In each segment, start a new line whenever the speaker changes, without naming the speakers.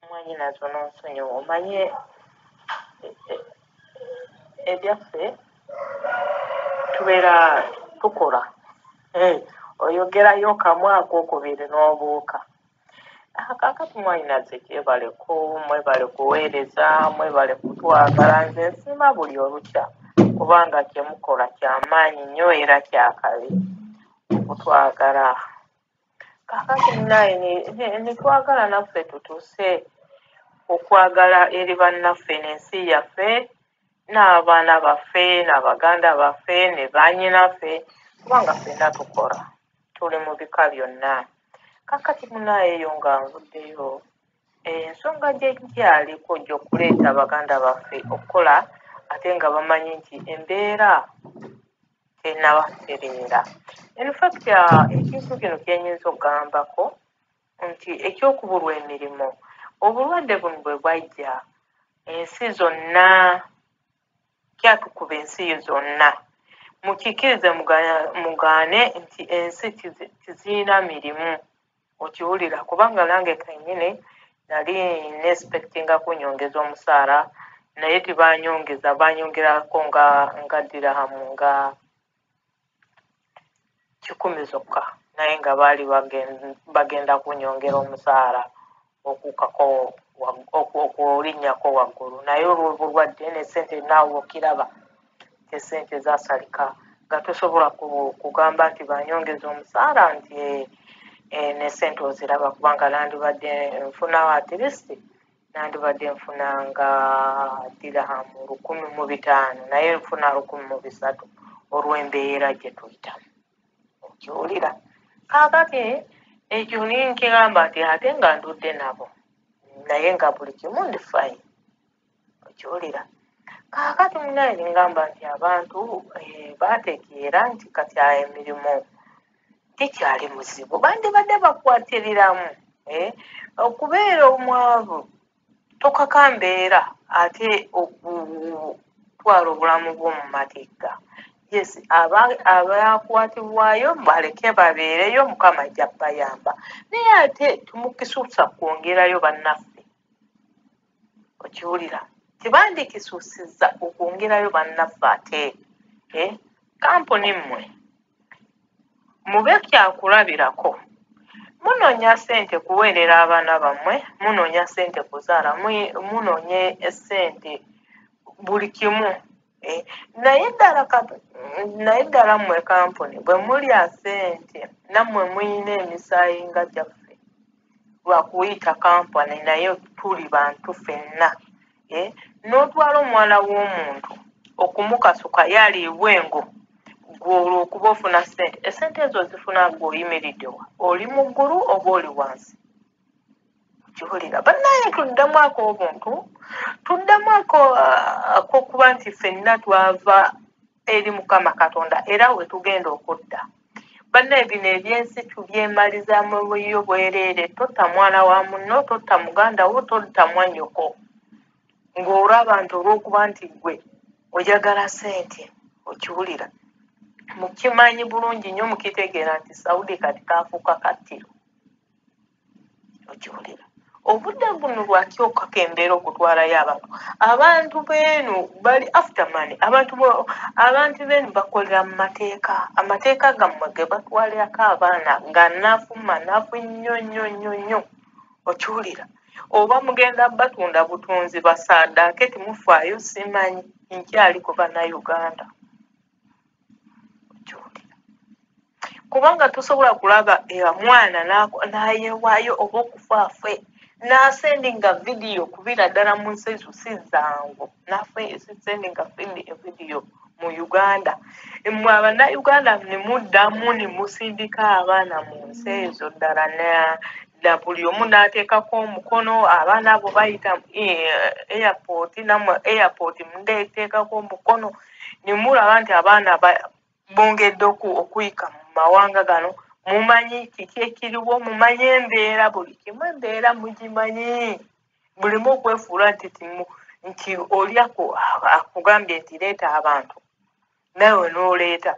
mwanyinaze ononsonyiwa omanyi e- e- ebyaffe tubeera tukola Eh, oyogerayo kamu ako okubiri n'obuuka Ah, kakati mwanyinaze kyebale ku mwebale kuweereza mwebale kutwagala nze nsiima buli olukya kubanga kyemukola kyamaanyi nnyo era kyakabi okutwagala kakati naye netwagala naffe tutuse okwagala eri bannaffe nensi yaffe n'abaana baffe nabaganda baffe ne banyinaffe kubanga fenna tukola tuli mu bika byonna kakati munayeyo nga nvuddeyo ensonga gyekyaliko gyokuleeta baganda baffe okukola ate nga bamanyi nti embeera tenaba kutereera infact uh, ekintu kino kyenyinza okugambako nti ekyokubulwa emirimu obulwadde buno bwe bwajja ensi zonna kyatukuba ensi zonna mukikirize mugaane nti ensi tizirina mirimu okiwulira kubanga nange kenyini nali nespectinga kunyongeza omusaala naye tibanyongeza banyongerako nga nga dirahamu nga kikumi zokka naye nga baali bagenda kunyongera omusaala okuukako okulinnyako waggulu naye olw'obulwadde ne ssente naawe okiraba esente zasalika nga tosobola kugamba nti banyongeza omusaala nti eh, eh, ne ssente oziraba kubanga nandibadde nfuna atlist nandibadde nfuna nga dirahamu lukumi mu bitaano naye nfuna lukumi mu bisatu olw'embeera gye tuyitamu okiwulira kakati ekyo ninkigamba nti ate nga ndudde nabo naye nga buli kimu ndi fine okiwulira kakati munaye ningamba nti abantu eh, bategeera nti kati aya emirimu gikyali muzibu bandibadde bakwatiriramu eh, okubeera omwavu tokaka mbeera ate okutwala obulamu bwo mu matigga yes abakwatibwayo baleke babeereyo mukama ajja bayamba naye ate tumukisusa kwongerayo bannaffe okiwulira tebandikisusiza okwongerayo bannaffe ate eh, kampuni mmwe Mube kyakulabirako. Munoonya ssente kuweerera abaana bammwe, munoonya ssente kuzaala, munoonya ssente buli kimu. Eh, naye ddala naye ddala mmwe kampuni bwe mulya ssente nammwe muyina emisaayi nga gyaffe lwakuyita kampani naye tuli bantu fenna. eh, n'otwala omwana w'omuntu okumukasuka yaliibwa engo gwe olwokuba ofuna sente esente ezo ozifuna gwe oyimiriddewa oli mu ggulu oba oli wansi kiwulira banaye tuddamu ako obuntu tuddamu ako akokuba nti fenna twava eri mukama katonda era wetugenda okudda bannaye bino ebyensi tubyemaliza mubuyo bwereere totta mwana wa munno totta muganda wo totta mwanyoko ng'olwa abantu olw'okuba nti gwe ojagala sente okiwulira mukimanyi bulungi nnyo mukitegeera nti saudi kati kaafuuka kattiro okiwulira obudde buno bwakyokako embeera okutwalayo abantu abantu beenu bali after money abantu abantu beenu bakolera mu mateeka amateeka gammwe ge batwalirako abaana nga nafu manafu nnyo nnyo nnyo nnyo okiwulira oba mugenda batunda butunzi basaadaake timufaayo simanyi nkyali ku bannayuganda kubanga tosobola kulaba mwana nayewayo oba okufaafe nasendinga vidiyo kubira ddala mu nsi ezo si zangu nasendinga vidiyo mu uganda mwe abanauganda nemuddamu nemusindika abaana mu nsi ezo ddala na buli omu nateekako omukono abaana abo bayita eh, airport namwe airport mudeteekako omukono ne mulaba nti abaana bongedde okuyika mu mawanga gano mumanyi kiki ekiriwo mumanyi embeera buli kimu embeera mugimanyi bulimu okwefuula nti timu nti oli akugambye nti leeta abantu nawe n'oleeta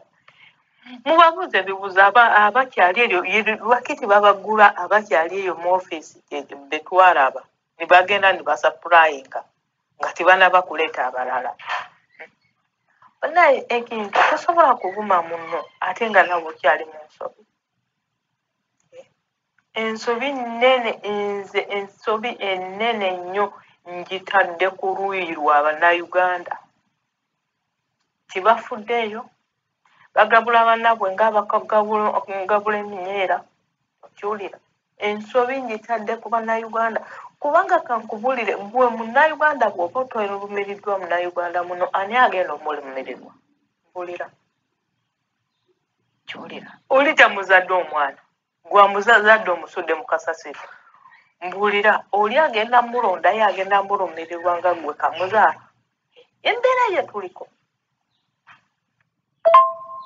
mubabuuza ebibuuzo abakyali eyo lwaki tebabagula abakyali eyo mu ofiisi betwalaba nibagenda nibasapurayinga nga tibanaba kuleeta abalala banaye ekintu tosobola kuvuma muno ate nga nawe okyali mu nsobi ensobi nene nze ensobi enene nnyo ngitadde ku luuyi lwa banauganda tibafuddeeyo bagabula banabwe ngabagabula eminyeera okiwulira ensobi njitadde ku bannayuganda kubanga kankubulire gwe munnayuganda bwoba otwelumiriddwa munnayuganda muno ani agenda omulumirirwa bulira kiwulira olija muzadde omwana gwa muzazadde omusudde mu kasasiro mbuulira oli agenda mulondayo agenda mulumirirwa nga gwe kamuzaala embeera ye tuliko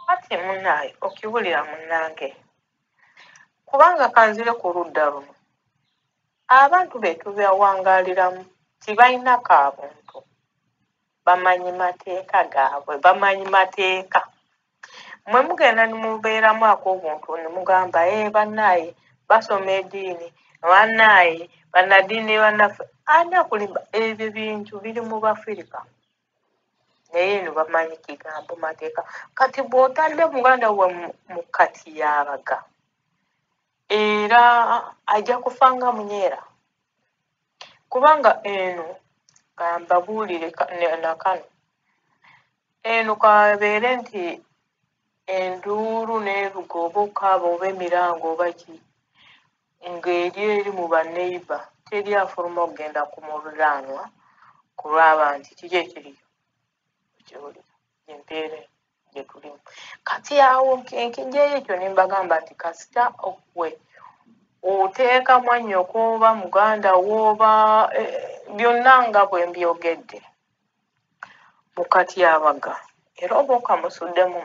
kati munaaye okibulira munange kubanga kanzire ku ludda luno abantu betubeawangaliramu tibalina kabuntu bamanyi mateeka gaabwe bamanyi mateeka mwe mugenda nimubeeramu akobuntu nimugamba e eh, bannaaye basoma ediini bannaaye bannadiini bannaffe ani akulimba ebyo bintu biri mu bafirika naye eno bamanyi kigambo mateeka kati bwotadde muganda wa mu kati yabaga era ajja kufa nga munyeera kubanga eno kambabuulire nakano eno kabeere nti enduulu n'eruga oba okaaba oba emiranga oba ki ng'eri eri mu baneiba teri afuluma okugenda ku muliraanwa kulwaba nti kiki ekiriyo gyoli empeera gyetulimu kati awo enkijeyo ekyo nembagamba nti kasita okwe oteeka mwanyoko oba muganda woba e, byonna nga bwembyogedde mukatyabaga era oba okamusuddemu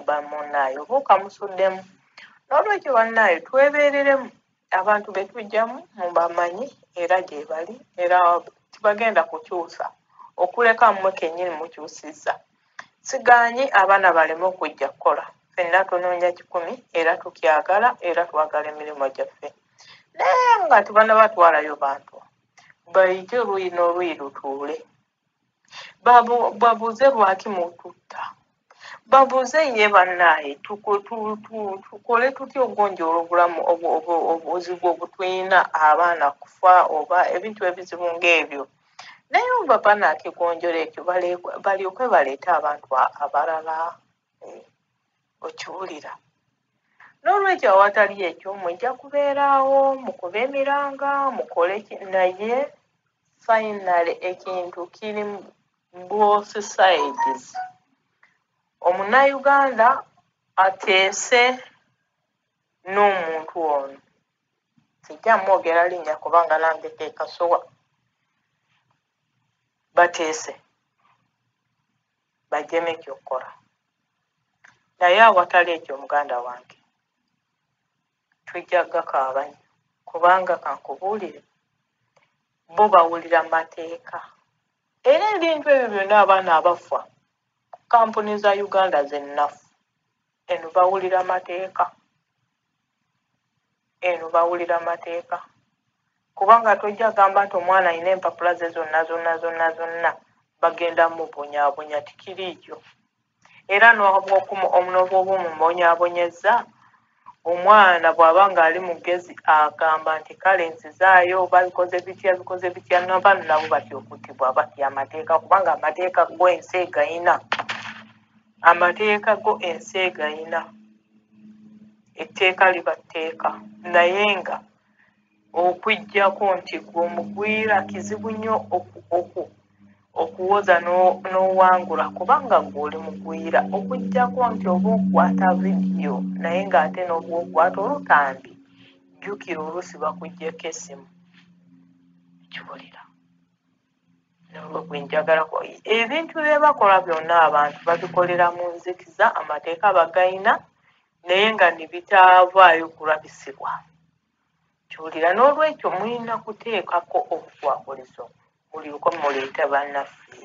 bamunaayo oba okamusuddemu nolwekyo banaayo twebereremu abantu be tujjamu mubamanyi era gye bali era tibagenda kukyusa okuleka mmwe kennyini mukyusizza sigaanyi abaana baleme okujja kukola fenna tunoonya kikumi era tukyagala era twagala emirimu gyaffe naye nga tebanabatwalayo bantu bayite oluyi n'oluyi lutuule Babu- babuuze lwaki mututta babuuze ye bannaaye tuko- tu- tu- tukole tutya okugonjoola obulamu obu- obu- obuzibu obutulina abaana kufa oba ebintu ebizibu ng'ebyo naye oba banakigonjola ekyo bale- balyoke baleete abantu a- abalala eh, okiwulira n'olwekyo awatali ekyo mujja kubeeraawo mukube emiranga mukole ki naye finally ekintu kiri both sides omunauganda ateese n'omuntu ono sijja mwogera linnya kubanga nange kekasuwa bateese bajeme kyokukola naye awatali ekyo muganda wange tujja gakaaba nyo kubanga kankubuulire bo bawulira mateeka era ebintu ebyo byonna abaana abafa kampuni za uganda zennafu eno bawulira mateeka eno bawulira mateeka kubanga tojja gamba nti omwana alina empapula ze zonna zonna zonna zonna bagenda mubonyabonya tikiriijo era nobwobumubonyabonyezza omwana bw'aba ng'ali mugezi agamba nti kale nzizaayo oba bikoze bitya bikoze bitya nabaana nabo batya okuttibwa batya amateeka kubanga amateeka gwensi egayina amateeka go ensi egayina etteeka liba tteeka naye nga okujjako nti gwe omugwira kizibu nnyo okuwoza n'owangula kubanga gwe oli mugwira okujjako nti oba okwata vidiyo naye ng'ate n'oba okwata olutambi jjukira oluusi bakuggyeko essimu kiwulira gwenjagala ebintu byebakola byonna abantu babikolera mu nzikiza amateeka bagayina naye nga nebitavaayo kulabisibwa kiwulira n'olwekyo mulina kuteekako obukwakolizo mulyoka muleeta bannaffe